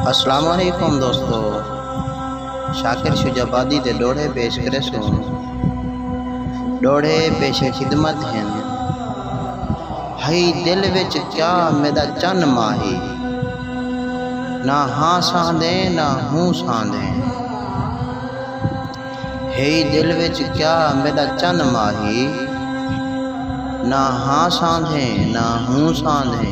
اسلام علیکم دوستو شاکر شجاع آبادی دے ݙوہڑے پیش کریسوں ݙوہڑے پیش خدمت ہن ہئی دل وچ کیا میݙا چن ماہی نہ ہاں سہندے نہ ہوں سہندے ہئی دل وچ کیا میݙا چن ماہی نہ ہاں سہندے نہ ہوں سہندے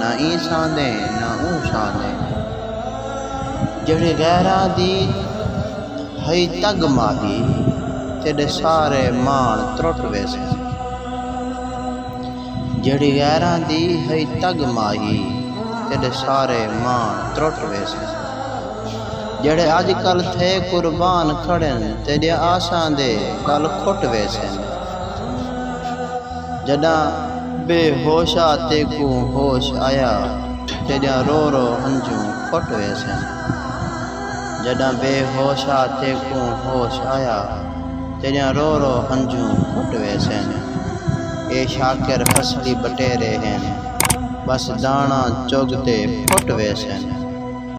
نہ ایں ساندے نہ اوں ساندے جیڑھے غیراں دی ہئی تگ ماہی تیڈے سارے ماݨ ترٹ ویسن جیڑھی غیراں دی ہئی تگ ماہی تیڈے سارے ماݨ ترٹ ویسن جیڑھے اج کل تھئے قربان کھڑن تیڈیاں آساں دے کل کھٹ ویسن۔ جݙاں بے ہوش آ تیکوں ہوش آیا تیݙیاں رو رو ہنجوں پٹ ویسن جݙاں بے ہوش آ تیکوں ہوش آیا تیݙیاں رو رو ہنجوں پٹ ویسن اے شاکر فصلی بٹیرے ہن بس داݨاں چڳ تے پھٹ ویسن۔